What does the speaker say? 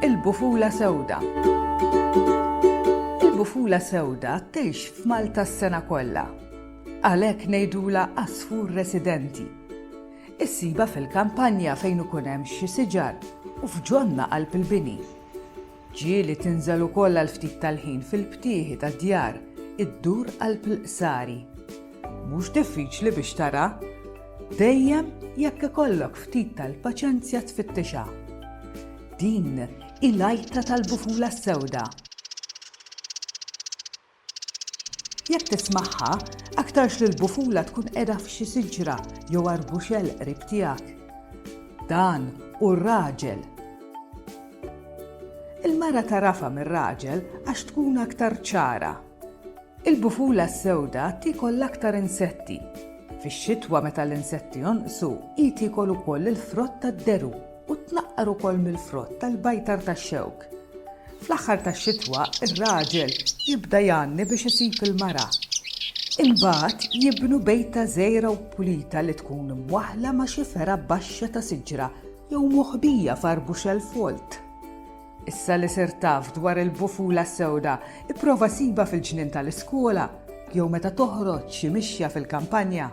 Il-bufula sewda. Il-bufula sewda tgħix f'Malta s-sena kollha. Għalhekk ngħidula għasfur residenti. Issiba fil-kampanja fejn ikun hemm xi siġar u f'ġonna qalb il-bini. Ġieli tinżel ukoll għal ftit tal-ħin fil-btieħi tad-djar iddur qalb il-qsari. Mhux diffiċli biex tara, dejjem jekk ikollok ftit tal-paċenzja tfittixha. Din hi l-għajta tal-bufula s-sewda. Jekk tismagħha, aktarx li l-bufula tkun qiegħda f'xi siġra jew arbuxell qrib tiegħek. Dan hu r-raġel. Il-mara tagħrafha mir-raġel għax tkun aktar ċara. Il-bufula s-sewda tiekol l-aktar insetti. Fix-xitwa meta l-insetti jonqsu, hi tiekol ukoll il-frott tad-deru. u tnaqqar ukoll mill-frott tal-bajtar tax-xewk. Fl-aħħar tax-xitwa, ir-raġel jibda jgħanni biex isib il-mara. Imbagħad jibnu bejta żgħira u pulita li tkun imwaħħla ma' xi fergħa baxxa ta' siġra jew moħbija f'arbuxell folt. Issa li sirt taf dwar il-bufula s-sewda, ipprova sibha fil-ġnien tal-iskola jew meta toħroġ xi mixja fil-kampanja.